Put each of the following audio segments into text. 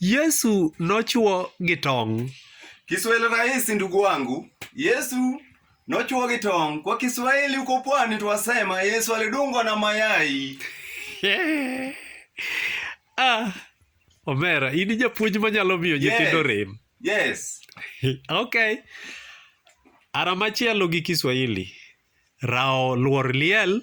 Yesu nochwo gi tong'. Kiswahili rahisi ndugu wangu. Yesu nochwo gi tong'. Kwa Kiswahili uko pwani twasema Yesu alidungwa na mayai. Yeah. Ah, Omera, in japuonj manyalo miyo nyithindo yes. rem. Yes. okay. Ara machielo gi Kiswahili. Rao luor liel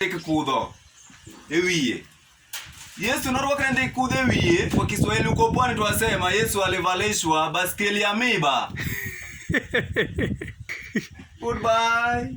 Ndik kudho e wiye. Yesu norwakne ndik kudho e wiye. Kwa Kiswahili uko pwani twasema Yesu alivalishwa baskeli ya miba. Goodbye.